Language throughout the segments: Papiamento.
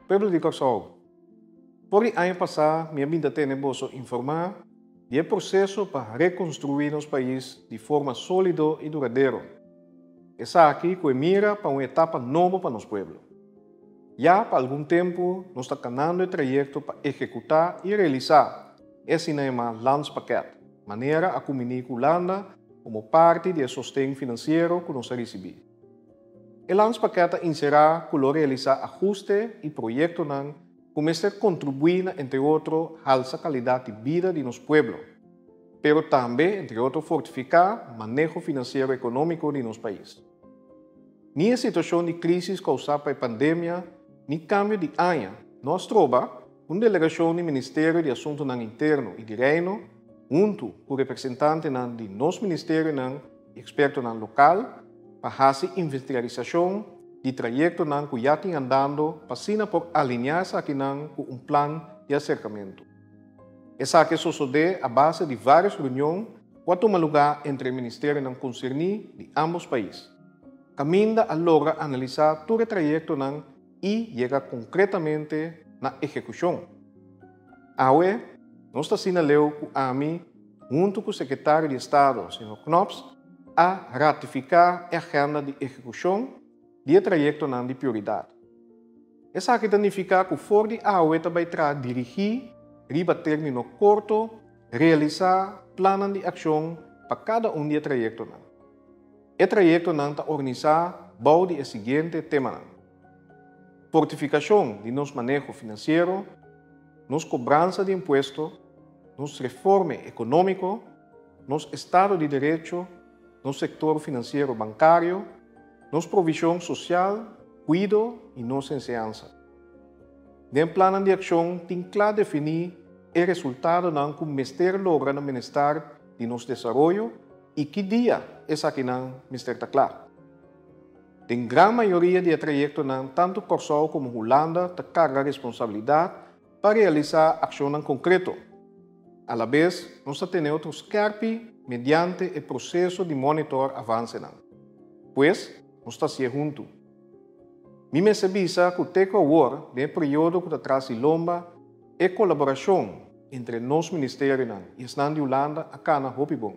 Pueblo di Kòrsou, for di aña pasá mi a bin ta tene boso informá di e proseso pa rekonstruí nos pais di forma sólido i duradero. Esaki ku e mira pa un etapa nobo pa nos pueblo. Ya pa algun tempu nos ta kanando e trayekto pa ekekutá i realisá Esina e mas lans pakèt manera a kuminí ku Hulanda komo parti di e sosten finansiero ku nos a risibí. E lans pakèt ta inserá ku lo realisá ahuste i proyektonan ku mester kontribuí na entre otro halsa kalidat di bida di nos pueblo, pero tambe entre otro fortifiká maneho finansiero ekonómiko di nos pais. Ni e situashon di krísis kousá pa e pandemia ni kambio di aña no a stroba, Un delegashon di Ministerio di Asuntunan Interno i di Reino, huntu ku representantenan di nos ministerionan i ekspertonan lokal, pa hasi investigarisashon di trayektonan ku ya tin andando pa asina por alineá esakinan ku un plan di aserkamentu. Esaki a sosodé a base di vários reunion ku a tuma lugá entre e ministerionan konserní di ámbos pais, kaminda a logra analisá tur e trayektonan i yega konkretamente na ehekushon. Awe nos ta asina leu ku ami huntu ku Sekretario di Estado, señor Knops, a ratifiká e agenda di ehekushon di e trayektonan di prioridat. Esaki ta nifiká ku for di awe ta bai traha dirigí riba término korto realisá plannan di akshon pa kada un di e trayektonan. E trayektonan ta organisá bou di e siguiente temanan, fortifikashon di nos maneho finansiero, nos kobransa di impuesto, nos reforme ekonómiko, nos estado di derecho, nos sektor finansiero bankario, nos provishon sosial, kuido i nos enseansa. Den plannan di akshon tin kla definí e resultadonan ku mester logra na minestar di nos desaroyo i ki dia esakinan mester ta kla. Den gran mayoria di e trayektonan tantu Kòrsou komo Hulanda ta karga responsabilidat pa realisá akshonnan konkreto. Alabes nos ta tene otro skèrpi mediante e proseso di mònitor avansenan. Pues, nos ta hasié huntu. Mi mester bisa cu te cu awor, den e periodo cu ta tras di lomba, e colaboracion entre nos ministerionan y esnan di Hulanda a cana hopi bon.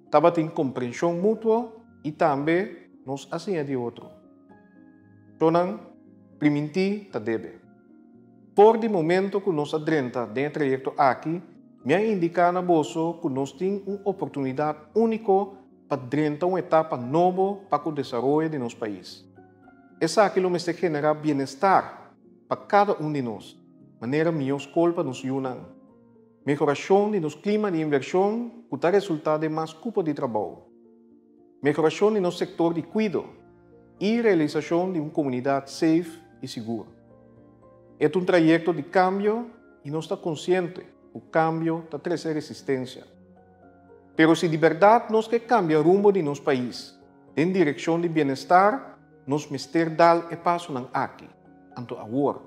Tabatin comprension mutuo y tambe nos a siña di otro. Tonan priminti ta debe. For di momento cu nos a drenta den e trayecto aki, mi a indica na boso cu nos tin un oportunidad unico pa drenta un etapa nobo pa ku desaroyo di nos pais. Esaki lo mester generá bienestar pa kada un di nos, manera mihó skol pa nos yunan, mehorashon di nos klima di invershon ku ta resultá den mas kupo di trabou, mehorashon di nos sektor di kuido i realisashon di un komunidat seif i sigur. E ta un trayekto di kambio i nos ta konsiente ku kambio ta trese resistensia. Pero si di berdad nos ke kambia rumbo di nos pais den direkshon di bienestar, nos mester dal e pasonan aki, anto awor.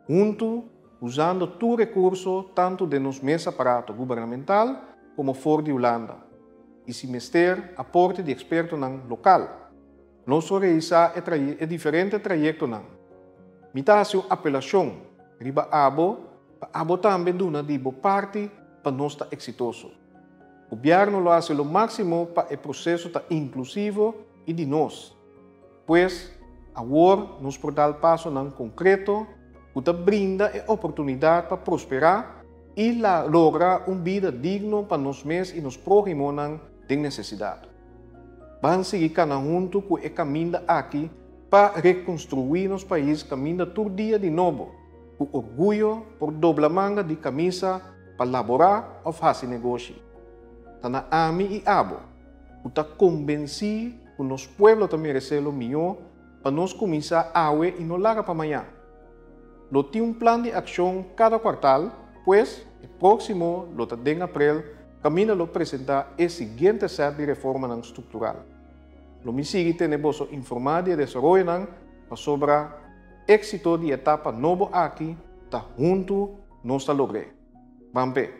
Huntu, usando tur rekurso tantu den nos mes aparato gubernamental komo for di Hulanda, i si mester aporte di ekspertonan lokal, Nos so reisa e traye e diferente trayektonan. Mi ta hasi un apelashon riba abo pa abo tambe duna di bo parti pa nos ta eksitoso. Gobièrnu lo hasi lo máksimo pa e proseso ta inklusivo i di nos. Pues, awor nos por dal pasonan konkreto ku ta brinda e oportunidat pa prosperá i logra un bida digno pa nos mes i nos próhimonan, den nesesidat. Ban sigui kana huntu ku e kaminda aki pa rekonstruí nos pais kaminda tur dia di nobo, ku orguyo por dobla manga di kamisa pa laborá òf hasi negoshi. Ta na ami i abo, ku ta kombensí ku nos pueblo ta meresé lo mihó, pa nos kuminsá awe i no laga pa maña. Lo tin un plan di accion cada cuartal, pues e proximo lo ta den aprel caminda lo presenta e siguiente set di reformanan structural. Lo mi sigui tene boso informa di e desaroyonan pasobra exito di e etapa nobo aki ta huntu nos ta logr'e. Ban p'e.